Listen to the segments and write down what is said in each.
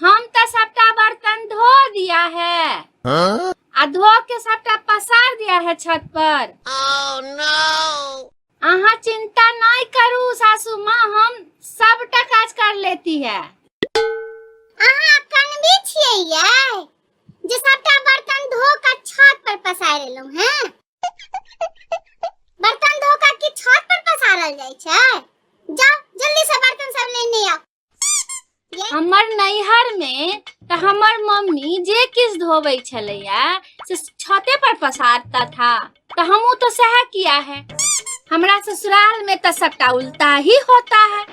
हम तऽ सबटा बर्तन धो दिया है आ धो के सबटा पसार दिया है छत पर अहाँ चिंता नहीं करू सासू माँ हम सबटा काज कर लेती है अहाँ कनबी छियै ये जे सबटा बर्तन धो के छत पर पसार एलहुं हैं बर्तन धो के की छत पर पसारल जाय छै जाओ जल्दी से बर्तन सब लेने आओ हमर नैहर में तऽ हमर मम्मी जे किछु धोबै छलैया से छते पर पसारता था तऽ हमहूँ तऽ सएह किया है हमरा ससुराल में तऽ सबटा उल्टा ही होता है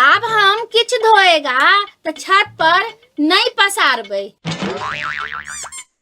आब हम किछु धोएगा तऽ छत पर नहि पसारबै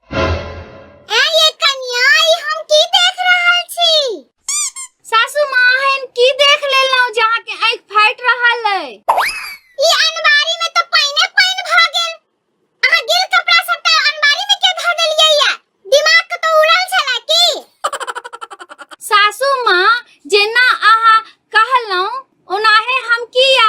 ए ये कन्या ई हम की देख रहल छी सासू माँ हम की देख लेलहुँ जे अहाँके आँखि फाटि रहल अइ ई अनबारी में तो पाइने पाइन भ गेल अहाँ गिल कपड़ा सबटा अनबारी में के धऽ देलियै या दिमाग के तो उड़ल छला की सासू माँ जेना अहाँ कहलहुँ ओनाहे हम किया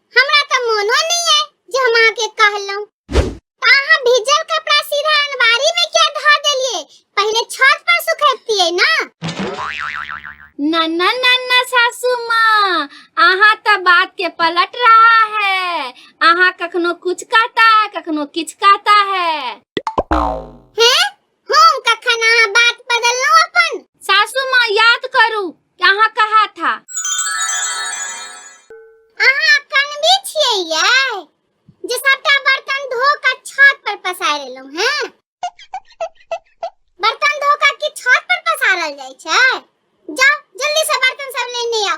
हमरा त मोनो नहीं है जे हम अहाँ के कहलहुं त अहाँ भीजल कपड़ा सीधा अनवारी में क्या धा देलिए पहले छत पर सुखैतिए ना ना ना ना ना सासू माँ अहाँ त बात के पलट रहा है अहाँ कखनो कुछ कहता है कखनो किछ कहता है हैं हम कखन अहाँ बात बदललहुँ अपन सासू माँ याद करू कि अहाँ कहा था अहाँ अखन भी छियै यै जे सबटा बर्तन धो कऽ छत पर पसारि एलहुँ हैं बर्तन धो कऽ की छत पर पसारल जाइ छै जाउ जल्दी से बर्तन सब लेने आउ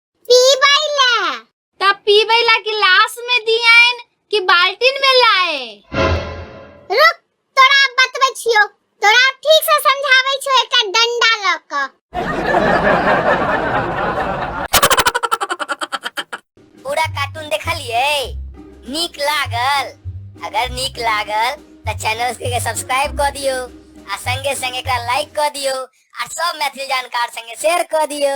पीबै ला तब पीबै ला गिलास में दियाइन कि बाल्टीन में लाए रुक तोरा बतबै छियो तोरा ठीक से समझाबै छियो एकर डंडा ल क पूरा कार्टून देखलिए नीक लागल अगर नीक लागल त चैनल के सब्सक्राइब क दियो आ संगे संगे एकरा लाइक क दियो आ सब मैथिली जानकार संगे शेयर क दियो